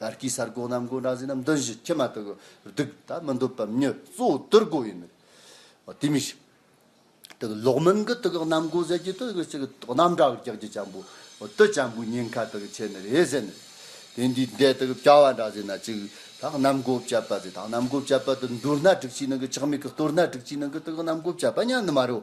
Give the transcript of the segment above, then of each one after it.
ལར་གྱི་གསར་འགོད་རྣམས་དགོན་གྲྭ་ཟིན་ནམ་འདུན་བཞི་ཁྱི་མ་དག་གི་སྡུག་ད་མི་འདོད་པ་མྱི་གཙོ་བོ་དུར་དགོན་ཡིན་མོད། དེ་མི་ཤེས། དེ་གི་ལོག་མིན་གི་དུ་གི་རྣམ་དགོན་ཟེར་གྱི་དུ་གི་ཆེ་གི་རྣམ་གྲགས་ཀྱི་ལྕགས་ཀྱི་བྱང་བུ་དུ་བྱང་བུའི་ཉེན་ཁ་དུ་གི་ཆེ་ནི་རེད་ཟེར་ནི། དེ་འདི་འདྲའི་དུ་གི་བྱ་བ་འདྲ་ཟེར་ན་ཅིག་ད་རྣམ་དགོན་བྱ་བ་ཟེར་ད་རྣམ་དགོན་བྱ་བ་དུ་འདུར་ན་དྲུག་ཅིག་ནང་གི་ཆག་མེད་གི་གཏོར་ན་དྲུག་ཅིག་ནང་གི་དུ་གི་རྣམ་དགོན་བྱ་བ་མྱ་ནི་མ་རེད།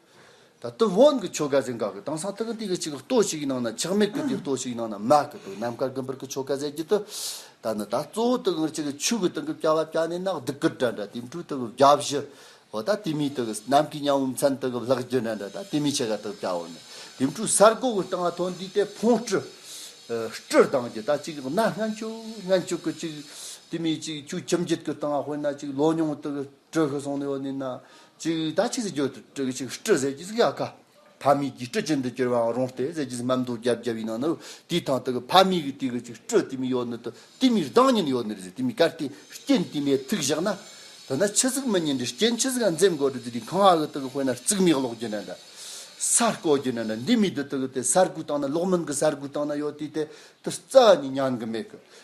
ད་དུ་བོན་གྱི་ཆོ་ག་གཟན་འགག་གི་དང་སང་ཐག་འདི་གི་ཅིག་གི་ལྟོ་ཞིག་གི་ནང་ན་ཆག་མེད་གི་འདི་ལྟོ་ཞིག་གི་ནང་ན་མ་གི་འདུག་ནམ་མཁར་དགུན་འབར་གི་ཆོ་ག་གཟན་གྱི་དུ་ད་ནི་ད་གཙོ་བོ་དག་གི་ཅིག་གི་ཆུ་གི་དང་གི་བྱ་བ་བྱ་ནས་ནག་དི་གི་འདྲ་འདྲ་དེ་འཕྲུ་དག་གི་བྱ་བཞི་འོ་ད་དེ་མི་དག་གི་ནམ་གི་ཉང་བུ་མཚན་དག་གི་ལག་རྒྱུ་འདྲ་འདྲ་ད་དེ་མི་ཆེ་ག་དག་བྱ་བོ་ནི་དེ་འཕྲུ་སར་གོ་གི་དང་ཐོ་འདི་དེ་འཕོང་སྤྲུ། སྤྲུ་གདང་གི་ད་ཅིག་གི་ན་སྔན་ཆུ་སྔན་ཆུ་གི་ཅིག་དེ་མི་ཅིག་ཆུ་ཁྱིམ་བརྒྱུད་གི་དང་དཔེར་ན་ཅིག་ལོ་ཉུང་དག་གི། སྤྲོས་ཤིག་སོང་ནས་འོ་ནི་ན། ཅིག་ཡིད་ལྟ་ཅིག་ཟེར་གྱིས་སྤྲོས་ཤིག་ཅིག་སྤྲོས་ཟེར་གྱིས་ཡ་ཁ། ཕ་མེས་ཀྱིས་སྤྲོས་ཅན་དུ་གྱུར་པའང་རུང་སྟེ་ཟེར་གྱིས་སྨྲ་འདོད་རྒྱབ་རྒྱབ་ཡིན་ན་ནི། དུས་ཐང་དུ་ཕ་མེས་ཀྱི་དུས་ཀྱི་ཅིག་སྤྲོས་དུས་མིན་ཡོད་ནི་དུ་དུས་མིན་གདངས་ཉིད་ཡོད་ནི་རེད་ཟེར་དུས་མིན་གར་དེ་རྐྱེན་དུས་མེད་ཐུགས་བཞག་ན། དེ་ནི་ཆུ་གཟུགས་མི་ཉིད་འདི་རྐྱེན་ཆུ་གཟུགས་འཛེམ་དགོས་དུས་དུས་དུས་གང་གི་དུག་དཔེར་ན་རྩིག་མིག་གློག་རྒྱུ་ན་འདྲ། ས་བརྐོ་རྒྱུ་ན་འདྲ་འདི་མིན་དུ་དུག་དེ་ས་རྐུའི་སྟེང་ན་གློག་མིན་གྱི་ས་རྐུའི་སྟེང་ན་ཡོད་དུས་དེ་དུས་རྩ་བ་ནས་མྱང་གི་མེད་གི།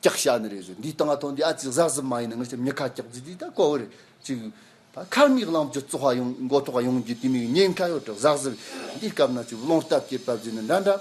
སྐྱག་ཤ་ནི་རེད་ཟེར་འདིའི་སྟངས་ཨ་ཐོ་འདི་ཨ་ཙི་གཟག་གཟིག་མ་ཡིན་ན་ངར་ཆ་མི་ཁ་སྐྱག་རྫི་འདི་ད་ཀོ་བོ་རེད་ཅིག་ད་ཁར་མིག་རླངས་བཅུ་བཙོ་བ་ཡོང་མགོ་ཐོག་ཡོང་རྒྱུ་དེ་མིག་ཉེན་ཁ་ཡོད་དྲག་གཟག་གཟིག་འདིའི་སྐབས་ན་ཅིག་བློང་སྟབས་སྐྱེས་སྟབས་རྫི་ནི་འདྲ་འདྲ་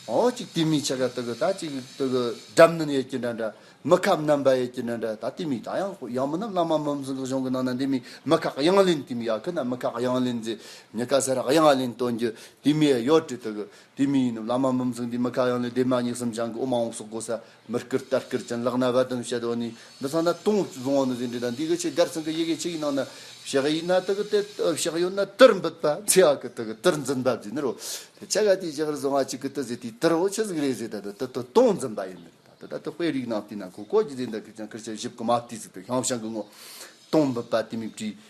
ཨོ་ཅིག་དེ་མིག་ཆ་ག་ཏོ་གི་ད་ཅིག་ཏོ་གི་འགྲམ་ནི་ཡས་ཀྱི་འདྲ་འདྲ་མི་ཁ་མནམ་པ་ཡས་ཀྱི་འདྲ་འདྲ་ད་དེ་མིག་ད་ཡང་ཡང་མི་ནམ་བླ་མ་མིམ་ཟིང་གི་གཞུང་གི་ནང་ན་འདི་མིག་མི་ཁ་གཡང་ལེན་དེ་མིག་ཨ་ཁུ་ན་མི་ཁ་གཡང་ལེན་རྫི་མི་ཁ་ཟེར་གཡང་ལེན་སྟོན་རྒྱུ་དེ་མིག་ཡོད་དྲི་ཏོ་གི། དེ་མིན་ཡིན་ནམ་བླ་མ་མི་མཚུངས་དེ་མི་ཁ་གཡང་ལས་སྡེ་མ་སྙིང་གསུམ་ཆང་གི་དབུ་མང་བོ་སོགས་གོ་ས་མི་བསྐུར་ལྟ་བསྐུར་ཅན་ལག་ན་རྦ་དུམ་བཤད་དོ་ནི་འདི་ཚང་ན་སྟོང་བཟང་བོ་ནི་ཟིན་བྲིས་དང་འདི་གི་ཆེད་སྒར་ཚང་གི་ཡི་གེ་ཆིག་ཡིག་ནང་ན་བཞག་ཡིན་ན་དག་དེ་བཞག་ཡོད་ན་དིར་འབུད་པ་ཚེ་ཡག་གི་དག་དིར་འཛིན་པ་བརྒྱུད་ནི་རོ་དེ་ཆ་ག་དེ་བཞག་རི་བཟང་བ་གཅིག་གི་དུ་ཟེ་དེའི་དིར་བོ་ཆི་ཟིག་རེད་ཟེ་ད་དུ་དི་དུ་སྟོང་འཛིན་པ་ཡིན་ནི་ད་དུ་ད་དུ་དཔེ་རིགས་ནང་དེ་ནང་གོ་གོ་གི་ཟེ་འདི་གི་ཅང་ཁིར་ཆ་བཞི་བཀུ་མ་དེ་ཟིག་དུ་ཤང་ཤང་གི་ངོ་སྟོང་འབུད་པ་དེ་མིག་བྲིས།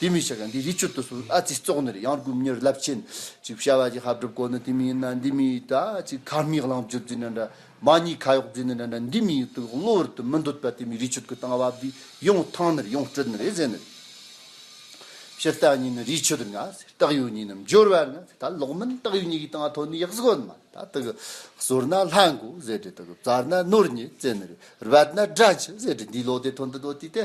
དེ་མི་ཤེས་ཀ་འདི་རི་ཆུ་ལྟོ་སོ་ཨ་ཙི་ཙོག་ནི་རེད་ཡང་སྒུམ་ཉེར་རླབས་ཆེན་གཅིག་བྱ་བ་གྱི་ཧབ་སྒྲུབ་སྐོར་ནི་དེ་མི་ཡིན་ན་འདི་མི་ཡིད་ད་ཅི་ཁ་མིག་ལང་བརྒྱུད་རྫི་ནི་འདྲ་མ་གཉིས་ཁ་གཡོག་རྫི་ནི་འདྲ་འདྲ་འདི་མི་ཡིད་དུ་གློ་བུར་དུ་མི་འདོད་པ་དེ་མི་རི་ཆུ་གི་སྟེང་བབས་དུས་ཡོངས་ཐང་ནི་རེད་ཡོངས་སྤྲོད་ནི་རེད་ཟེར་ནི་རེད། ཕྱི་རྟགས་གཉིས་ནི་རི་ཆུ་དང་ཨ་ཙི་རྟགས་ཡོད་གཉིས་ནི་འབྱོར་བ་ནི་ད་ལོག་མིན་རྟགས་ཡོད་གཉིས་ཀྱི་སྟེང་ཐོག་ནི་ཡག་གཟུགས་ཨ་མ་ད་དག་གསོར་ན་ལྷ་འགོ་ཟེར་དྲི་དག་བཙར་ན་ནོར་ཉེས་བཙལ་ནི་རེད་རྦད་ན་དགྲ་འཆི་ཟེར་དྲི་འདི་ལོག་དེ་ཐོན་དེ་ལོག་དུས་དེ་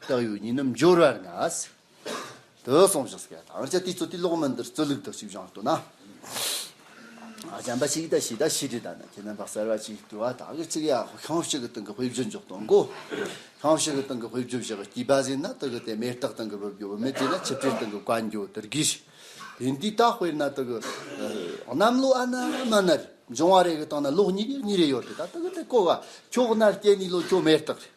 བཏགས་ཡོད་ཉིན་ནམ་འབྱོར་བར་ན། དུ་སོང་ཞིག་སྐད་དང་བཅས་དེ་ཚོ་དེ་ལོག་མིན་དེར་རྩོད་ལུགས་དང་ཤིག་བྱང་ལྟོས་ན། བྱམས་པ་ཞིག་དང་ཞིག་དང་ཞི་བདེ་དང་ནི་ཁྱེད་རྣམ་པ་གསར་བ་ཅིག་དུ་བ་དག་གི་ཚིག་ཡག་ཤོག་ཤང་ཞིག་གི་སྟེང་གི་དཔེ་བརྗོད་འཇོག་དང་གོ། ཤང་ཞིག་གི་སྟེང་གི་དཔེ་བརྗོད་བྱེད་པར་སྐྱིད་པ་ཟིན་ན་དེ་གི་དེ་མེད་རྟགས་སྟེང་གི་བུ་བརྒྱུད་བུ་མེད་བྲིས་ན་ཆིབས་བྲིས་སྟེང་གི་བཀའ་འགྱུར་དེར་གྱིས་ཤིག། དེ་འདི་དག་དཔེར་ན་དེ་གི། གནམ་ལོ་ཨ་ན་མ་ནར་འབྱུང་བ་རེ་གི་སྟེང་ན་ལོག་གཉིས་གཉིས་རེ་ཡོད་དེ་དག་དེ་གི་དེ་བཀོད་པ་ཁྱོག་ནར་སྐྱེས་ནས་ལོ་ཁྱོ་མེད་རྟགས་རེད།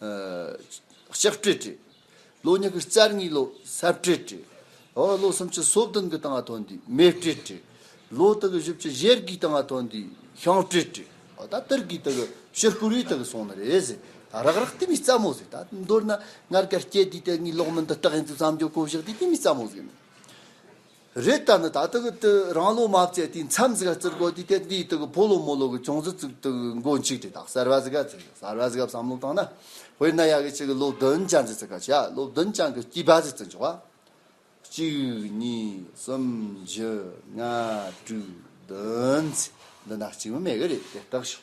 ལྕགས་སྤྲེལ་བྲི། ལོ་ཉི་ཤུ་རྩ་གཉིས་ལོ་སར་སྤྲེལ་བྲི། ལོ་སུམ་ཅུ་སོ་བདུན་གྱི་སྟེང་ལ་ཐོན་དུས་མེ་སྤྲེལ་བྲི། ལོ་དགུ་བཞི་བཅུ་བཞི་བརྒྱའི་སྟེང་ལ་ཐོན་དུས་ཤིང་སྤྲེལ་བྲི། ད་ཏིར་གྱི་དག་ཕྱིར་བསྐུར་བའི་དག་སོང་ནི་རེད་ཟེར། རག་རག་དེ་མི་རྩ་མོ་ཟེར། ད་མདོར་ན་སྔར་གར་སྐྱེས་དེའི་དག་ངའི་ལོག་མིན་དུ་སྟག་ཡིན་ཚུལ་བསམ་རྒྱུ་གོ་བཞག་དེ་དེ་མི་རྩ་མོ་ཟེར། རེད་ད་ནི་ད་ལྟ་གི་དུས་རང་ལོ་མ་བརྩད་དུས་མཚམས་ཟིག་ལ་བརྩི་དགོས་དུས་དེར་འདིའི་དུས་ཀྱི་ཕོ་ལོ་མོ་ལོ་གི་ཅུང་ཟད་བརྩི་དུས་ཀྱི་མགོ་མཇུག་དེ་དག་གསར་བ་ཟིག་ག་ཚིག་གསར་བ་ཟིག་ག་བསམ་བློ་བཏང་ན་དཔེར་ན་ཡག་གི་ཆེ་གི་ལོ་བདུན་ཅན་ཟིག་ཚིག་ག་བྱས་ལོ་བདུན་ཅན་གྱི་སྐྱིད་པ་ཟིག་བརྩི་འཇོག་པ། གཅིག་གཉིས་གསུམ་བཞི་ལྔ་དྲུག་བདུན་ཚིག་འདི་འདྲ་བརྩི་མི་མེད་གི་རེད་དེ་ལྟག་ཞིག།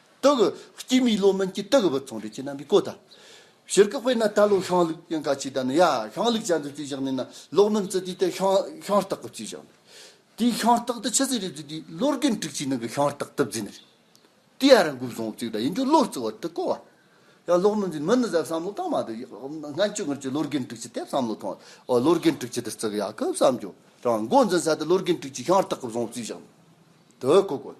སྟག་གི་སྐྱེས་མིའི་ལོ་མན་གྱིས་སྟག་གི་བུ་ཚང་བྲེ་ཆེ་རྣམ་པའི་བཀོད་ད། ཕྱིར་བཀག་པས་ན་ད་ལོ་ཤང་ལུག་ཡང་ག་ཅི་ད་ནི་ཡ་ཤང་ལུག་ཅག་འདི་རྩིས་བཞག་ནས་ན་ལོག་མིན་རྩི་དུས་དེ་ཤང་ཤང་སྟག་གི་རྩིས་བཞག་ནས། དེའི་ཤང་སྟག་དེ་ཕྱི་ཟས་རེ་རྩི་དུས་ལོ་རྒན་དྲུག་ཅུའི་ནང་གི་ཤང་སྟག་དེབ་རྩིས་ནི་རེད། དེའི་ཨ་ར་འགུག་བཟང་བོ་གཅིག་ད་ཡིན་རྒྱུ་ལོ་རྩི་བར་དུ་བཀོད་བ། ཡང་ལོག་མིན་རྩིས་མི་ནི་གཟབ་བསམ་བློ་གཏང་མ་དུ་སྔ་འགྱུར་སྔར་གྱི་ལོ་རྒན་དྲུག་ཅུ་དེབ་བསམ་བློ་ཐོང་བ་ལོ་རྒན་དྲུག་ཅུ་དེར་རྩི་གི་ཡ་གི་བསམ་རྒྱུ་དང་མགོ་འཛིན་ས་དེ་ལོ་རྒན་དྲུག་ཅུའི་ཤང་སྟག་གི་བཟང་བོ་རྩིས་བཞག་ནས་དེ་བཀོད་དགོས།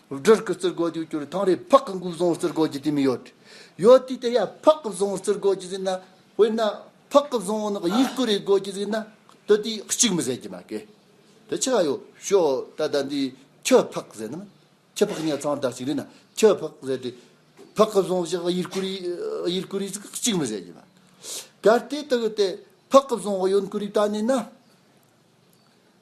སྦྲུལ་གྱི་རྩིར་གོ་དུས་གྱུར་ཐང་རེ་ཕག་གི་འགུགས་བཟང་རྩིར་གོ་རྒྱུ་དེ་མི་ཡོད། ཡོད་དུས་དེ་ཡ་ཕག་གི་བཟང་རྩིར་གོ་རྒྱུ་ཟིན་ན་དཔེར་ན་ཕག་གི་བཟང་ནི་གཡུལ་སྐུ་རེ་གོ་རྒྱུ་ཟིན་ན་དེ་དུས་གཅིག་མི་ཟེར་གྱི་མ་དགོས། དེ་ཆི་ག་ཡོད་ཤོག་ད་ལྟ་འདི་ཁྱི་ཕག་ཟེར་ནམ་ཁྱི་ཕག་ཉལ་ཚང་དག་ཅིག་རེད་ན་ཁྱི་ཕག་ཟེར་ཏེ། ཕག་གི་བཟང་ཞིག་གཡུལ་སྐུ་གཡུལ་སྐུ་རེ་ཟིག་གཅིག་མི་ཟེར་གྱི་མ། གལ་ཏེ་དེ་ཡོད་དེ་ཕག་གི་བཟང་གཡོན་སྐུ་རེ་བལྟ་ནས་ན།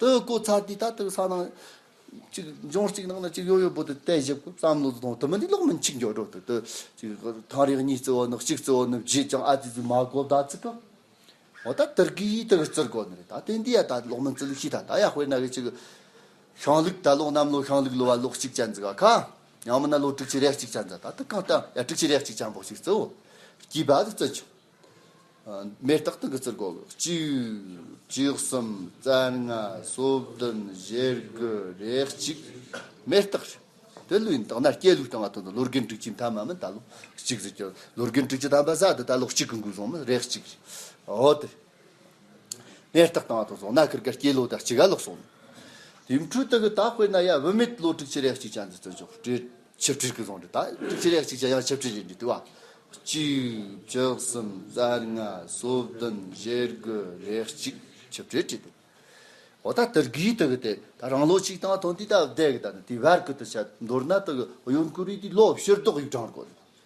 དུ་བཀོད་ཚར་དུས་ད་ལྟ་ས་ནང་གཅིག་ལྗོངས་གཅིག་ནང་ན་གཅིག་ཡོད་ཡོད་པོ་དེ་བལྟས་བཞག་གོ་བསམ་བློ་གཏོང་དུ་མི་འདི་ལོག་མིན་གཅིག་འགྱོགས་འགྲོ་དུ་ཐང་རིག་གཉིས་བརྩི་བ་ནི་གཅིག་བརྩི་བ་ནི་བརྗེད་ཀྱང་ཨ་ཙི་ཙི་མ་གོ་བརྡ་བརྩི་གི་འོ་ད་དེར་གི་ཡིས་དེར་བརྩི་དགོས་ནི་རེད་ད་དེ་འདི་ཡ་ད་ལོག་མིན་བརྩི་ལུགས་ཤིག་ད་ད་ཡ་དཔེར་ན་གི་ཅིག་ཤང་ལུགས་ད་ལོག་གནམ་ལོ་ཤང་ལུགས་ལོ་བ་ལོག་གཅིག་ཅན་བརྩི་ག་ཁ་ཡང་མིན་ན་ལོ་དྲུག་ཅུ་རེ་གཅིག་ཅན་བརྩི་ད་ད་གང་ལྟར་ཡ་དྲུག་ཅུ་རེ་གཅིག་ཅན་པོ་ཞིག་བརྩི་འོ་སྐྱིད་པ་དུ་བརྩི་ཆོག། མེ་སྟག་དང་གི་རྩིར་བསྐོར། བཅུ་གསུམ་རྩ་ལྔ་སོ་བདུན་བཞི་དགུ་རེ་གཅིག། མེ་སྟག་རེ། དེ་ལུས་ཡིན་དག་ན་སྐྱེས་ལུགས་དང་བ་དོན་དུ་ལོ་རྒན་དྲུག་ཅུའི་མཐའ་མ་མི་ད་ལོ་གཅིག་རེ་སྐྱོར། ལོ་རྒན་དྲུག་ཅུ་ཐམ་པ་བཟའ་འདི་ད་ལོ་གཅིག་གི་འགུལ་བཟང་མི་རེ་གཅིག་རེ། འོ་དེ། མེ་སྟག་དང་བ་དོན་བཟང་ན་ཁིར་གར་སྐྱེས་ལོ་ད་གཅིག་ག་ལོག་སོང། དེའི་འཕྲུལ་དུ་གི་ད་དཔེར་ན་ཡ་བུད་མེད་ལོ་དྲུག་ཅུ་རེ་གཅིག་ཅན་འདི་བརྩོན་ཆོག་སྤྲེལ། ཆིབས་བསྒྲིལ་གྱི་རྫོང་འདི་དག་གཅིག་རེ་གཅིག་བྱ་ཡང་ཆིབས་བསྒྲིལ་ཡིན་དུས་བ། གཅིག། བཅུ་གསུམ། རྩ་ལྔ། སོ་བདུན། བཞི་དགུ། རེ་གཅིག། ཆིབས་བསྒྲིལ་བྲིས་འདུག། འོ་ད་དེར་གི་དེ་གི་དེ་ད་རང་ལོ་ཆིག་སྟངས་ཐོག་འདི་ད་བསྡད་གི་ད་ནི་དེ་བར་གི་དུ་བྱ་མདོར་ན་དེ་གི་གཡོན་སྐུ་རིས་དེ་ལོ་བཤེར་རྡོག་ཡིག་གྲངས་རེ་བཀོད་འདུག།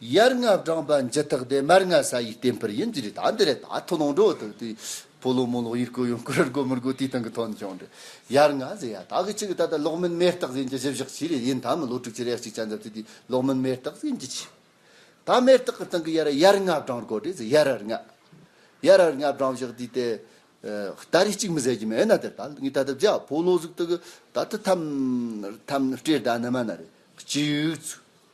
ཡར་རྔ་བསྒྲངས་པ་འཇི་ཐག་འདི་མར་རྔ་ས་ཡིས་བསྟན་འཕུར་ཡིན་གྱི་རེད་ད་འདི་རེད་ད་ཐུག་ལོང་འགྲོ་དང་དུས་ཕོ་ལོག་མོ་ལོག་ཡུལ་བསྐོར་ཡང་བསྐོར་ར་དགོ་མི་དགོ་དུས་ཐང་གི་ཐོག་ནས་ཀྱང་འགྲོ་ཡར་རྔ་ཟེར་ཡ་ད་གི་ཆི་གི་ད་ལྟ་ལོག་མིན་མེ་སྟག་གཟན་གྱི་གཞི་བཞག་ཆི་རེད་ཡིན་ད་མི་ལོ་དྲུག་ཅུ་རེ་གཅིག་ཆ་འཛབ་དུས་དུས་ལོག་མིན་མེ་སྟག་གཟན་གྱི་ཆི་ད་མེ་སྟག་གི་སྟེང་གི་ཡར་ཡར་རྔ་བསྒྲངས་དགོ་དྲེ་ཟེར་ཡར་ར་རྔ་ཡར་ར་རྔ་བསྒྲངས་བཞག་དུས་དེ་ད་རེ་གཅིག་མི་ཟེར་གྱི་མེད་ན་དེར་ད་ངས་ད་ལྟ་བརྒྱ་ཕོ་ལོག་ཟུག་ཏུ་གི་ད་ད་ཐམ་ཐམ་སྤྲེལ་ད་ནི་མ་ན་རེ་གཅིག་ཚུགས།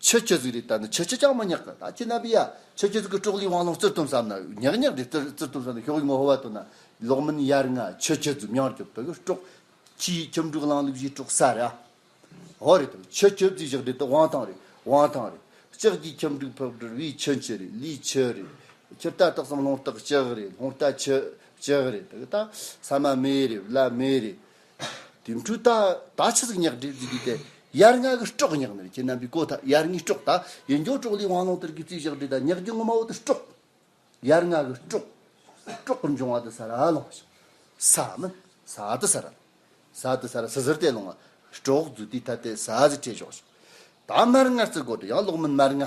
ཆོས་སྤྱོད་གཟུགས་རིས་ལྟ་ན་ཆོས་སྤྱོད་ཅང་མ་ཉག་གི་ད་ཁྱེད་རྣམ་པས་ཡ། ཆོས་སྤྱོད་གཟུགས་ཀྱི་ཀྲོག་ལིའི་དབང་ལུང་རྩིར་བཏུམ་བསམ་ན་ཉག་ཉག་རེད་རྩིར་བཏུམ་བསམ་ན་ཤོག་ཡིག་ངོ་བོ་བ་བཏོན་ན་ལོག་མིན་ཡར་ལྔ་ཆོས་སྤྱོད་གཟུགས་མྱང་སྐྱོབ་དོ་ཡོད་ཀྲོག། ཕྱིའི་ཁྱིམ་དྲུག་གླང་ལུག་བཞིའི་ཀྲོག་ས་རེད་ཨ། འོ་རེད་དམ་ཆོས་སྤྱོད་གཟུགས་བཞག་འདི་དང་དབང་ཐང་རེད་དབང་ཐང་རེད། ལྕགས་ཀྱི་ཁྱིམ་དྲུག་ཕག་གྲུར་བའི་ཁྱི་མཆུ་རེད་ལུས་མཆུ་རེད། ཁྱི་རྟ་སྟག་སམ་ལྷུང་སྟག་ལྕགས་རེད་ལྷུང་རྟ་ཁྱི་ལྕགས་རེད་ད་གི་ད། ས་མ་མེ་རེད་བླ་མེ་རེད། དེ་འཕྲུལ་རྟ་ད་ཆ་ཟིག་ཉག་འདྲེ་རྫི་གི་དེ་ཡར་ལྔ་གི་སྐྲོག་ཉག་ནི་ཁྱེད་རྣམ་པའི་གོ་ཐག་ཡར་ལྔའི་སྐྲོག་ད་ཡེ་འགྱོག་སྐྲོག་ལས་དབང་ལོང་དར་གི་རྩིས་བཞག་འདྲེ་ད་ཉག་གི་སྔོན་མ་བོ་དེ་སྐྲོག་ཡར་ལྔ་གི་སྐྲོག་སྐྲོག་པར་འབྱུང་བ་དེ་ས་ར་ལོང་ཞིག་ས་མི་ས་དེ་ས་ར་ལོང་ས་དེ་ས་ར་ཟི་ཟིར་དེ་ལོང་བ་སྐྲོག་རྫུ་དེའི་ཐ་དད་ས་ཟི་བྲེ་ཞོག་ཞིག་ད་མར་ལྔ་རྩི་དགོ་དེ་ཡང་ལོག་མིན་མར་ལྔ།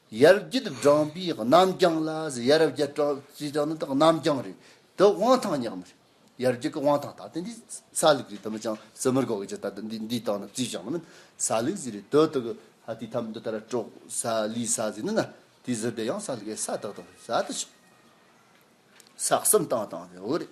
ཡར་རྒྱས་བགྲངས་པའི་རྣམ་རྐྱང་ལ་ཟེར་ཡར་རྒྱས་བགྲངས་ནི་དག་རྣམ་རྐྱང་རེད་དེ་དབང་ཐང་ཉག་མ་རེད་ཡར་རྒྱས་ཀྱི་དབང་ཐང་དག་དེ་འདི་ས་ལུགས་རེད་དམ་ཅང་བཙུན་མོར་གོ་གི་ཅི་ད་དུ་འདི་འདི་དག་ནི་བརྩིས་བཞག་ན་མིན་ས་ལུགས་ཟེར་རེད་དོ་དོ་ཧ་དེ་ཐམས་འདི་ལྟར་དཀྲོག་ས་ལུས་ས་ཟེར་ནི་ན་དེ་ཟུར་བསྡད་ཡང་ས་ལུགས་ཨེ་ས་དག་དང་ས་དེ་ཆགས་ས་གསུམ་བཏང་བཏང་ཟེར་འོ་རེད།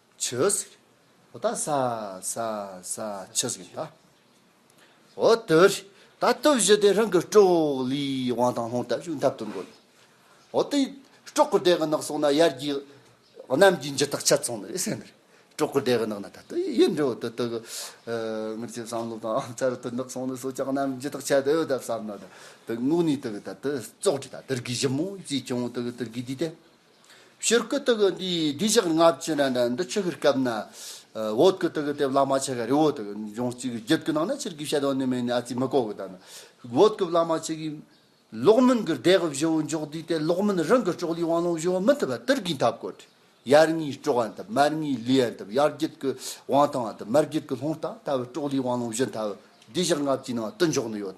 ཆུས། ད་ད་ས་ས་ས་ཆུས་གིན་ད། འོ་དོས། ད་དུ་བཞི་དེ་རང་གི་སྤྲོག་ལི་དབང་ཐང་ལྷུང་ཐབས་ཞུགས་འཐབ་ཏུ་འགོད། འོ་དེ། སྤྲོག་གི་སྡེ་གི་ནགས་སོང་ན་ཡར་རྒྱས། གནམ་གྱི་འཇུ་ཐག་ཆད་སོང་ནི་རེད་སེམས། སྤྲོག་གི་སྡེ་གི་ནགས་ན་ད་དུ་ཡུལ་འབྲེལ་འོད་དུ་དུ་གི། ངར་ལྕེབ་བསམ་བློ་དང་ཨང་ཚར་དུ་ནགས་སོང་ནི་སོ་ཅག་གནམ་འཇུ་ཐག་ཆད་དུ་ཡོད་ད་བསམ་ན་ད་དུ་ངུག་ནི་དུ་གི་ད་དུ་བཙོག་དྲི་ད་དུར་གི་བཞི་མོ་ཅིས་བྱུང་དུ་གི་དུར་གི་དུས་དེ། ཕྱིར་སྐུ་དག་གི་འདིའི་བདུད་བཞག་ལྔ་བཅུ་ན་འདི་འདི་ཆོས་ཤིག་སྐབས་ན། འོད་སྐུ་དག་གི་དེ་བླ་མ་ཆེ་ག་རི་བོ་དག་འབྱུང་གཅིག་གི་རྒྱུད་ཀྱི་ནང་ན་ཕྱིར་གུས་ཞལ་དང་གནོད་མེད་ནས་ཨ་ཙི་མི་ཀོ་གི་དག་ན། འོད་སྐུ་བླ་མ་ཆེ་གི། ལོག་མིན་གྱི་བདེ་གི་བཞི་བོ་འཇོག་དུས་དེ་ལོག་མིན་རང་གི་གྲོགས་ལུས་དབང་ལོངས་བཞི་བོ་མི་མཐུན་པ་དིར་གིས་འཐབ་གོ། ཡར་ངའི་གྲོགས་ཨ་འཐབ་མར་ངའི་ལུས་ཨ་འཐབ་ཡར་རྒྱུད་ཀྱི་དབང་ཐང་ཨ་འཐབ་མར་རྒྱུད་ཀྱི་ལྷོངས་ཐང་འཐབ་གྲོགས་ལུས་དབང་ལོངས་བཞི་འཐབ་བདུད་བཞག་ལྔ་བཅུའི་ནང་དུ་འཇོག་ནི་ཡོད།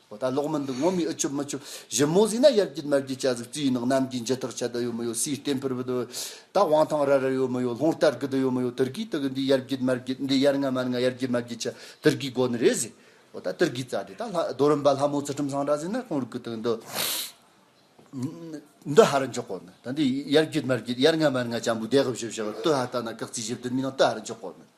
ཨོ་ད་ལོག་མི་འདུག་ངོ་མི་ཨུ་ཆུབ་མི་ཆུབ་གཞི་མོ་ཟིག་ན་ཡར་རྒྱུད་མར་རྒྱུད་བྱ་ཟིག་རྩི་ཡི་ནང་གནམ་གྱི་མཇེ་ཐག་ཆད་ད་ཡོད་མི་ཡོད་སུའི་ལྟེ་འཕུར་བུ་ད་ཡོད་ད་དབང་ཐང་ར་ར་ཡོད་མི་ཡོད་ལྷོང་སྟར་གི་ད་ཡོད་མི་ཡོད་ཏུར་ཀིའི་ཏི་གི་འདི་ཡར་རྒྱུད་མར་རྒྱུད་འདི་ཡར་ང་མར་ང་ཡར་རྒྱུད་མར་རྒྱུད་བྱ་ཏུར་ཀིའི་སྒོ་ནི་རེད་ཟིག་ཨོ་ད་ཏུར་ཀིའི་རྩ་དེ་ད་ལྷ་རྡོ་རིན་པ་ལྷ་མོ་ཚུལ་ཁྲིམས་ཟངས་དྲག་ཟིག་ན་ཁོང་རུ་ཀི་ཏི་གི་འདི་འདི་ཧ་རུ་འཇོག་གོ་མེད་ད་འདི་ཡར་རྒྱུད་མར་རྒྱུད་ཡར་ང་མར་ང་ཅང་བུ་བདེ་གི་བཞི་བཞག་ཏུ་ཧ་ལྟ་ན་ཀག་རྩིས་བཞི་བདུན་མི་ནང་ཏུ་ཧ་རུ་འཇོག་གོ་མེད།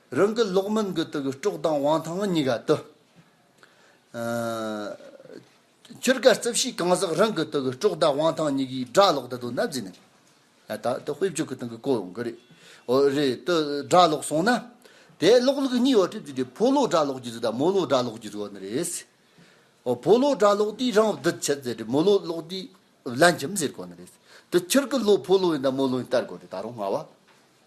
རང་གི་ལོག་མིན་གྱི་དུག་སྤྲོག་དང་དབང་ཐང་གཉིས་ཀ་དུ། ཆོས་དཀའ་རྩིབས་བཞི་གང་ཟག་རང་གི་དུག་སྤྲོག་དང་དབང་ཐང་གཉིས་ཀའི་སྒྲ་ལོག་ད་དུང་ནབ་རྫས་ནས། ད་དེ་དཔེ་བཅུ་གི་སྟེང་གི་གོ་གི་རེད། འོ་རེད་དུ་སྒྲ་ལོག་སོང་ན། དེའི་ལོག་ལུགས་གཉིས་འོ་ཁྲིད་བརྩིས་ཏེ་ཕོ་ལོག་སྒྲ་ལོག་གྱི་གཟུགས་དང་མོ་ལོག་སྒྲ་ལོག་གྱི་གཟུགས་འོ་ན་རེད། འོ་ཕོ་ལོག་སྒྲ་ལོག་དེས་རང་བདུད་བྱེད་ཟེར་ཏེ་མོ་ལོག་ལོག་དེས་བླ་འཁྱམས་ཟེར་གོ་ན་རེད། དུ་ཁྱེར་གི་ལོ་ཕོ་ལོ་ཡིན་དང་མོ་ལོ་ཡིན་ལྟར་གོ་རེད་ད་རུང་སྔ་བ།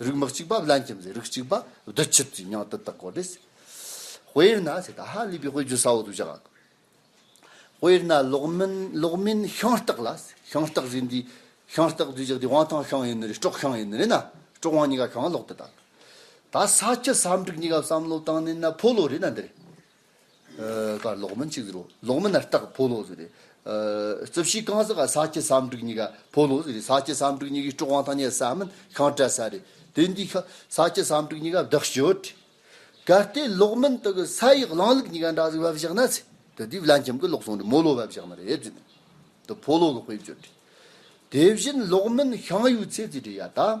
རིགས་མི་གཅིག་པ་བླ་མཁྱེན་པའི་རིགས་གཅིག་པ་བདུད་ཆུ་བཅུ་མྱང་ཏི་དག་གོ་དེས། དཔེར་ན་ད་ཧ་ལས་པའི་དཔེ་བརྗོད་ས་འོག་ཏུ་བཞག་ལ། དཔེར་ན་ལོག་མིན་ལོག་མིན་ཤོང་སྟག་ལ། ཤོང་སྟག་རི་འདི་ཤོང་སྟག་དུས་བཞག་དེ་དབང་ཐང་ཤོང་ཡིན་ནི་རེད་སྤྲོག་ཤོང་ཡིན་ནི་རེད་ན་སྤྲོག་དབང་གཉིས་ཀ་ཤོང་ལོག་དེ་དག། ད་ས་སྤྱི་ས་འགྲིག་གཉིས་ཀ་བསམ་བློ་བཏང་ནས་ན་ཕོ་ལོ་རེད་ན་འདི་རེད། ཀ་ལོག་མིན་གཅིག་རོ་ལོག་མིན་ན་རྟགས་ཕོ་ལོག་ཟེར། རྩིབས་བཞི་རྐང་གསེག་ཀ་ས་སྐྱི་སའམ་དྲུག་གཉིས་ཀ་ཕོ་ལོག་ཟེར། ས་སྐྱི་སའམ་དྲུག་གཉིས་ཀའི་དཀྲོགས་དབང་ཐ་སྙད་ས་མིན་ཤང་བཀྲ་ས་རེད། དེ་འདུས་ཤ་ས་སྐྱི་སའམ་དྲུག་གཉིས་ཀ་བདག་སྤྱོད། གལ་ཏེ་ལོག་མིན་དུ་གི་ས་ཡི་གླང་ལུག་གཉིས་ཀ་འདྲ་གཟིགས་བབས་བཞག་ན་ཚེ་དེ་དུས་བླ་འཁྱམས་གི་ལོག་སོང་དུ་མོ་ལོག་བབས་བཞག་ན་རེད་ཟེར། དུ་ཕོ་ལོག་གི་དཔེ་བརྗོད། དེ་བཞིན་ལོག་མིན་ཤང་ཡོད་ཚེ་ཚེ་དྲི་ཡ་ད།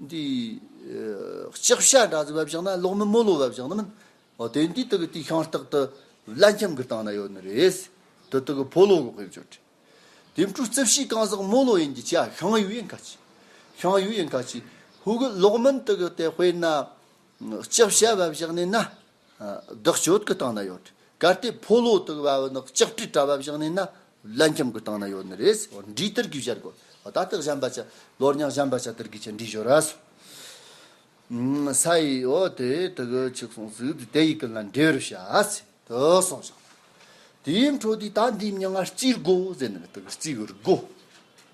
འདི། ལྕགས་བྱ་འདྲ་ཟེར་བ་བཞག་ན་ལོག་མིན་རྨོ་ལོ་བ་བཞག་ན་མིན། དེ་འདི་དག་གི་དུས་ཤིང་རྟག་ཏུ་བླ་འཁྱམས་ཀྱི་སྟེང་ན་ཡོད་ནི་རེད། དེ་དག་གི་ཕོ་ལོ་གོ་ཁེབས་བྱོས་དྲི། དེ་འཕྲུ་རྩིབས་བཞི་གང་ཟག་རྨོ་ལོ་ཡིན་གྱི་བྱ་ཤིང་ཡུ་ཡིན་ཁ་ཆེ། ཤིང་ཡུ་ཡིན་ཁ་ཆེ། ཧཱུྃ། ལོག་མིན་དག་གི་དེ་དཔེར་ན། ལྕགས་བྱ་བ་བཞག་ནས་ན། བདག་སྤྱོད་ཀྱི་སྟེང་ན་ཡོད། གལ་ཏེ་ཕོ་ལོ་དག་བ་བོ་ནི་ལྕགས་ཀྱི་དྲ་བ་བཞག་ནས་ན་བླ་འཁྱམས་ཀྱི་སྟེང་ན་ཡོད་ནི་རེད། འབྲས་དར་གྱིས་བཞར་དགོས། ད་ལྟག་གཞན་པ་ཅི། ལོ་རྙང་གཞན་པ་ཅི་དར་གྱིས་ཀྱི་འབྲས་བཞོ་ར་སོ། ས་ཡི་ཨོ་དེ་དག་གི་ཆིག་སོང་ཟིག་དེ་ཡི་ཀུན་ལ་འབྲས་རུ་བྱ། དུ་སོང་ཞིང། དེའི་འཕྲོ་དུས་ད་འདིའི་མྱི་ང་རྩིས་རྒོ་ཟེར་ནི་དག་རྩིས་རྒོ།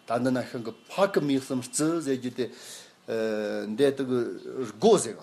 ད་འདི་ན་ཤིང་གི་ཕག་གི་མིག་གསུམ་རྩི་ཟེར་རྒྱུ་དེ། འདི་དག་རྒོ་ཟེར་བ།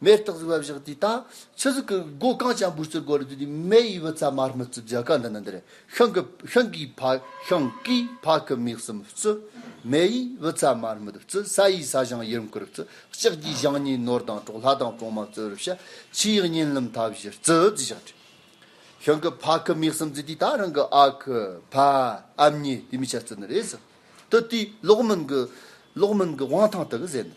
མེ་སྟག་གཟིག་བ་བཞག་དུས་དང་ཆུ་གཟིག་གི་སྒོ་གང་བྱ་འབུར་ཚུར་སྒོ་རུ་བསྡུས་ཏེ་མེ་ཡི་བུ་ཚ་མར་མི་བཙུད་བརྒྱ་ཁ་འདི་ན་འདིར་ཤིང་གི་ཤིང་གིས་ཕ་ཤིང་གིས་ཕ་གི་མིག་གསུམ་བཙུད། མེ་ཡི་བུ་ཚ་མར་མི་བཙུད་ས་ཡིས་ས་གཞང་ཡུར་མཁུར་བཙུད་ལྕགས་ཀྱིས་གཞང་གཉིས་ནོར་དང་གྲོག་ལྷ་དང་གྲོག་མ་བཙུད་རུ་བྱ་ཆུ་ཡིས་བསྙེན་ལམ་མཐའ་བཞི་བཙུད་བཞག་དྲི་ཤིང་གིས་ཕ་གི་མིག་གསུམ་བཙུད་དུས་ད་རང་གི་ཨ་ཁུ་ཕ་ཨམ་གཉིས་དུས་མི་ཆ་བཙུད་ནི་རེད་ཟེར་དུས་དུས་ལོག་མིན་གྱི་ལོག་མིན་གྱི་དབང་ཐང་དག་གཟས་ནི།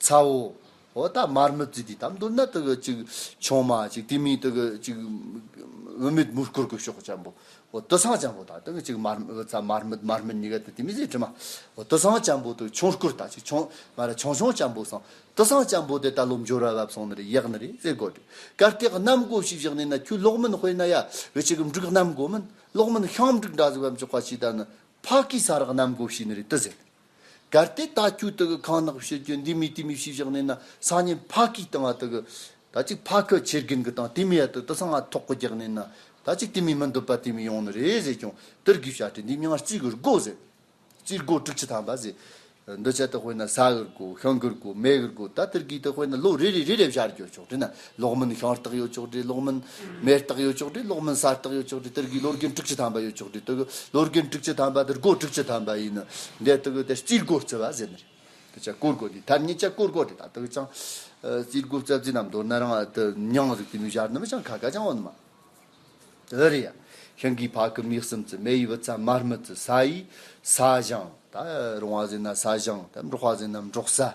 ཚ་བོ། འོ་ད་མར་མི་བརྫི་དུས་དམ་དུ་ནི་དག་གི་ཅིག། ཆུང་མ་ཅིག་དེ་མིན་དག་གི་ཅིག། བུད་མེད་མུར་བསྐོར་གོས་ཤོག་ཅན་པོ། འོ་དུ་སང་ཅན་པོ་དང་དག་གི་ཅིག་མར་མི་ཚ་མར་མི་མར་མི་ནི་ག་དུ་དེ་མི་ཟེ་དྲི་མ། འོ་དུ་སང་ཅན་པོ་དག་ཆུང་བསྐོར་དང་ཅིག་ཆུང། མ་ར་ཆུང་ཆུང་ཅན་པོ་སང། དུ་སང་ཅན་པོ་དེ་ད་ལོ་འབྱོར་བ་བབས་སོང་ནི་རེ་ཡག་ནི་རེ་ཟེ་གོ་དྲི། གར་སྟེགས་གནམ་སྒོ་ཞིག་བཞག་ནས་ན་ཁྱོད་ལོག་མིན་དཔེ་ན་ཡ། བའི་ཅིག་འབྲུག་གནམ་སྒོ་མིན། ལོག་མིན་ཤང་འབྲུག་འདྲ་ཟིག་བམ་ཅོག་ག་ཅིག་ད་ནི། ཕ་གིས་ས་རག་གནམ་སྒོ་ཞིག་ནི་རེ་དུ་ཟེ་ནི་རེ། གལ་ཏེ་ད་ཁྱོད་དེ་གི་ཁང་ནག་པོ་ཕྱིར་གྱོན་འདི་མི་དེ་མི་ཞིག་བཞག་ནས་ན་སང་ཉིན་ཕ་གིས་དེ་ང་དེ་གི་ད་ཅིག་ཕ་ཁྱོད་ཁྱེར་གྱིན་གི་དང་དེ་མི་ཡ་དེ་དེ་སང་ང་ཐོག་གི་རྒྱག་ནས་ན་ད་ཅིག་དེ་མི་མི་འདོད་པ་དེ་མི་ཡོང་ནི་རེད་ཟེར་ཀྱང་དེར་གི་བྱ་དེ་འདི་མྱང་རྩིས་གི་རྒོ་ཟེར། རྩིས་རྒོ་དྲུག་ཅི་ཐང་པ་ཟེར། འདི་བྱ་དེ་དཔེར་ན་ས་གི་རྒོ་ཤིང་གི་རྒོ་མེ་གི་རྒོ་ད་དེར་གི་དེ་དཔེར་ན་ལོ་རེ་རེ་རེ་རེ་བྱར་གྱོ་ཆོག་དེ་ན་ལོག་མིན་ཤང་རྟགས་ཡོད་ཅོག་དྲི་ལོག་མིན། མེ་རྟགས་ཡོད་ཅོག་དྲི་ལོག་མིན་ས་རྟགས་ཡོད་ཅོག་དྲི་དེར་དགུའི་ལོ་རྒན་དྲུག་ཅུ་ཐམ་པ་ཡོད་ཅོག་དྲི་དེ་དགུའི་ལོ་རྒན་དྲུག་ཅུ་ཐམ་པ་དེར་སྒོ་དྲུག་ཅུ་ཐམ་པ་ཡིན། འདི་དགུའི་དེར་སྤྱིར་སྒོ་རྩི་བ་ཟེར་ནི་རེད། དེ་ཆ་བཀོལ་སྒོ་དེ་ཐར་ཉིད་ཆ་བཀོལ་སྒོ་དེ་དག་དག་ཀྱང། སྤྱིར་སྒོ་རྩ་རྩི་རྣམས་མདོར་ན་རང་དུ་མྱང་རིག་པའི་མི་གཞར་ནུ་མ་ཅང་ཁ་ཁ་ཅང་འོན་མ། འོད་རེ་ཡ། ཤིང་གི་ཕག་གི་མིག་གསུམ་ཙི་མེ་ཡི་བུ་ཚ་མར་མི་ཙི་ས་ཡི་ས། ཞང། ད་རུང་བ་ཟེར་ན་ས་ཞང། ད་འབྲོག་བ་ཟེར་ན་འབྲོག་ས།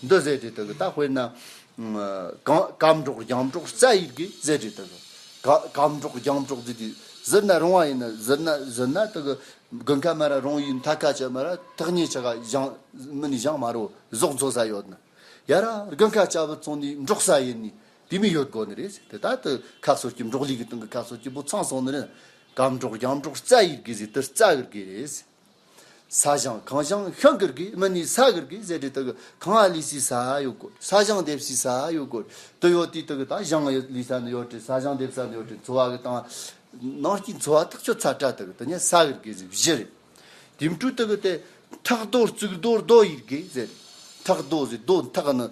འདི་བཟས་དེ་དག་གི་རྟགས་དཔེར་ན། གམ་གྲོག་རྒྱམ་གྲོག་རྩ་ཡིག་གིས་བཟས་དེ་དག་གི། གམ་གྲོག་རྒྱམ་གྲོག་རྫི་དེ་ཟིར་ན་རུང་བ་ཡིན་ན་ཟིར་ན་ཟིར་ན་དག་གི། དགུན་ཁ་མ་ར་རུང་ཡིན་ཐ་ཁ་ཆད་མ་ར་ཐག་ཉེ་ཆ་ག་བཞང་མི་ནི་བཞང་མ་རུ་ཟོག་འཚོ་ས་ཡོད་ན། ཡ་ར་དགུན་ཁ་ཆ་བུ་ཚོང་ནི་འབྲོག་ས་ཡིན་ནི་དེ་མི་ཡོད་དགོ་ནི་རེད་ཟེར་དེ་དག་དུ་ཁ་སོར་གྱི་འབྲོག་ལི་གི་སྟེང་གི་ཁ་སོར་གྱི་བུ་ཚང་སོང་ནི་རེད། གམ་གྲོག་རྒྱམ་གྲོག་རྩ་ཡིག་གིས་ཟི་དུ་རྩ་གིར་གིས་རེད། ས་ཞང་གངས་ཞང་ཤང་ཀིར་གིས་མི་ནི་ས་ཀིར་གིས་ཟེར་གྲི་དག་གི་གངས་ཨ་ལི་སི་ས་ཡོད་གོ་ས་ཞང་འདེབས་སི་ས་ཡོད་གོ་དུ་ཡོད་དུས་དག་གི་ད་ཞང་ཨ་ལི་ས་ནི་ཡོད་གྲི་ས་ཞང་འདེབས་ས་ནི་ཡོད་གྲི་འཚོ་བ་གི་དང་ནང་སྐྱིད་འཚོ་བ་ཐག་ཆོད་ཚ་ཏྲ་དག་གི་དུ་ནས་ས་ཀིར་གིས་ཟེར་བཞི་རེད་དེ་འཕྲུལ་དག་གི་དེ་ཁྲག་རྡོ་རྩིག་རྡོ་རྡོ་ཡིར་གིས་ཟེར་ཁྲག་རྡོ་ཟེར་རྡོ་འཐག་གི་ནི་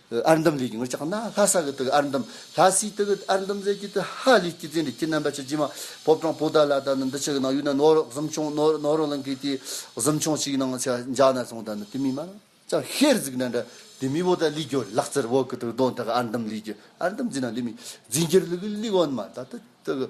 ཨར་འདམ་ལས་ཀྱི་ངོར་ལྕགས་ནག་ལྷ་ས་གི་དག་ཨར་འདམ་ལྷ་སའི་དག་ཨར་འདམ་རྫས་ཀྱི་དག་ཧ་ལས་ཀྱི་རྫས་འདྲེ་ཁྱི་རྣམ་པ་ཆ་རྗེ་མ་བོ་བྲང་སྤོ་དར་ལ་དང་འདི་ཕྱི་གི་ནང་ཡུལ་ན་ནོར་རོགས་གཟིམ་ཆུང་ནོར་ནོར་རོགས་ལ་འགེལ་ཏེ་གཟིམ་ཆུང་ཞིག་ནང་ཆ་འཇག་ན་སོང་དང་དེ་མིན་མ་ལ་ལྕགས་ཤེར་གཟིགས་འདྲ་འདྲ་དེ་མི་བོ་ད་ལི་རྒྱོ་ལག་རྩེར་བོ་གི་དག་དོན་དག་ཨར་འདམ་ལས་ཀྱི་ཨར་འདམ་རྫས་ནང་ལི་མི་རྫས་འགྱུར་ལི་གི་ལི་གོ་ནི་མ་ད་དག་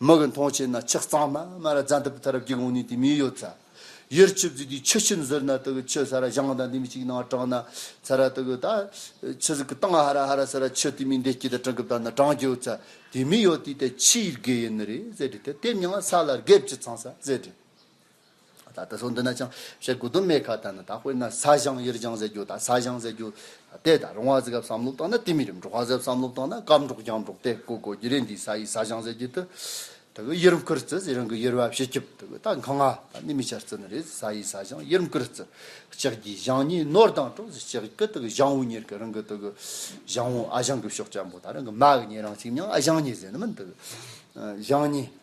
མི་གི་མཐོང་བྱེད་ན་ཆགས་གཙང་མ་མ་ར་རྫ་འདི་པི་ཐ་རབ་ཀྱི་གོང་ནས་དེ་མིའི་ཡོད་ཚ་ཡུར་ཆུ་བརྫིས་དུས་ཆུ་ཆིམ་ཟུར་ན་དུ་གི་ཆུ་ཚ་ར་བཞང་དང་དེ་མི་གཅིག་ནང་གྲང་ན་ཚ་ར་དུ་གི་ད་ཆུ་ཟིག་གི་སྟང་ཧ་ར་ཧ་ར་ཟེར་ར་ཆུ་དེ་མིའི་འདེད་སྐྱིད་དང་གྲང་གི་བརྡ་ན་གྲང་གི་ཡོད་ཚ་དེ་མིའི་ཡོད་དེའི་ཐད་ཕྱིའི་དགེ་ཡིན་ནི་རེད་ཟེར་དེ་ཐད་དེབ་ཉི་ང་ས་ལ་རྒེབ་ཀྱི་ཚང་ས་ཟེར་དྲན། ད་ལྟ་སོགས་འདི་ན་ཅང་བཤད་དགོས་དོན་མེད་ཁ་ད་ནི་ད་དཔེར་ན་ས་ཞང་ཡེར་ལྗང་ཟེར་རྒྱུ་དང་ས་ཞང་ཟེར་རྒྱུ། དེ་དང་རོང་བ་ཟེར་སྐབས་བསམ་བློ་བཏང་ན་དེ་མི་རིགས་འབྲོག་བ་ཟེར་བསམ་བློ་བཏང་ན་སྐམ་འབྲོག་རྒྱང་འབྲོག་དེ་གོ་གོ་རྒྱུ་རེད་འདིའི་ས་ཡིས་ས་ཞང་ཟེར་རྒྱུ་དེ། ད་གོ་ཡེར་མཁུར་རྩི་ཟེར་རང་གི་ཡེར་བ་བྱེད་སྐྱིབས་དེ་གོ་ད་གང་ང་ད་ནི་མི་ཆ་རྩི་ནི་རེད་ས་ཡིས་ས་ཞང་ཡེར་མཁུར་རྩི། ལྕགས་ཀྱི་ཞང་གཉིས་ནོར་དང་གྲོགས་ཟེར་ལྕགས་ཀྱི་དེ་གོ་ཞང་བོ་གཉེར་གི་རང་གི་དེ་གོ། ཞང་བོ་ཨ་ཞང་གི་ཕྱོགས་སྐྱ་འབོ་ད་རང་གི་མ་གི་གཉེར་རང་གཅིག་མྱང་ཨ་ཞང་གཉིས་ཟེར་ནི་མིན་དེ་གོ། ཞང་གཉིས།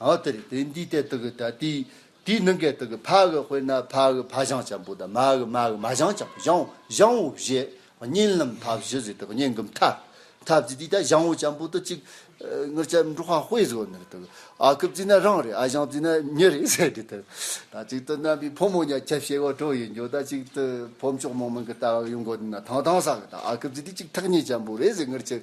འོ་དེ་རེད་དེ་འདིའི་ལྟའི་དག་གི་དག་དེའི་དེའི་ནང་གའི་དག་གི་ཕ་གི་དཔེར་ན་ཕ་གི་ཕ་བཞང་ཆེན་པོ་དང་མ་གི་མ་གི་མ་བཞང་ཆེན་པོ་བཞང་བཞང་བོ་བཞི་གཉིས་ལམ་མཐའ་བཞི་ཟེར་དག་གཉིས་གི་མཐའ་མཐའ་བཞི་དེའི་དག་བཞང་བོ་ཆེན་པོ་དང་གཅིག་ངར་ཅག་འབྲུག་ཧྭ་དཔེ་བཟོ་ནི་རེད་དག་ཨ་ཁུ་བརྩིས་ན་རང་རེད་ཨ་བཞང་བརྩིས་ན་མྱི་རེད་ཟེར་དེ་དག་དང་གཅིག་ཏུ་རྣམ་པའི་ཕོ་མོ་གཉའ་ཁྱབ་བྱེད་དགོས་གྲོགས་ཡིན་རྒྱུ་དང་གཅིག་ཏུ་ཕོ་མཆོག་མོ་མིང་གི་ལྟ་བ་ཡོང་དགོས་དུས་ན་ཐང་ཐང་ཟ་གི་དང་ཨ་ཁུ་བརྩིས་དེ་གཅིག་ཐག་ཉེ་ཆེན་པོ་རེད་ཟེར་ངར་ཅག་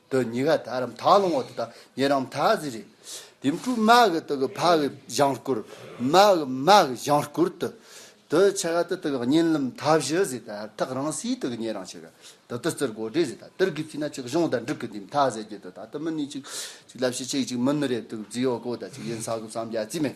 དུ་ཉི་ག་དར་རམ་དག་སློང་བ་དེ་དག་ཉེ་རམ་དག་ཟེར། དེ་འཕྲུལ་དམག་གི་དུག་གི་ཕག་གི་བཞང་བསྐུར། དམག་གི་དམག་གི་བཞང་བསྐུར་དུ། དུ་ཆེ་ག་དུ་དུག་གི་གཉན་རླུང་མཐའ་བཞི་ཟེར་དར་ཐག་རང་སའི་དུག་གི་ཉེ་རང་ཆེ་ག་དུ་དུ་རྩིར་སྒོ་འབྲས་ཟེར་དར་དུར་གྱི་ཚིག་ན་ཅིག་གཞུང་དང་འབྲུག་གི་དུས་མཐའ་ཟེར་རྒྱུ་དུ་དང་དུ་མི་གཉིས་ཅིག་ལབ་ཤི་ཅིག་ཅིག་མི་ནུ་རེབ་དུག་རྫི་ཡོ་གོ་དང་ཅིག་ཡིན་ས་གུབ་སམ་རྒྱ་རྩི་མེད།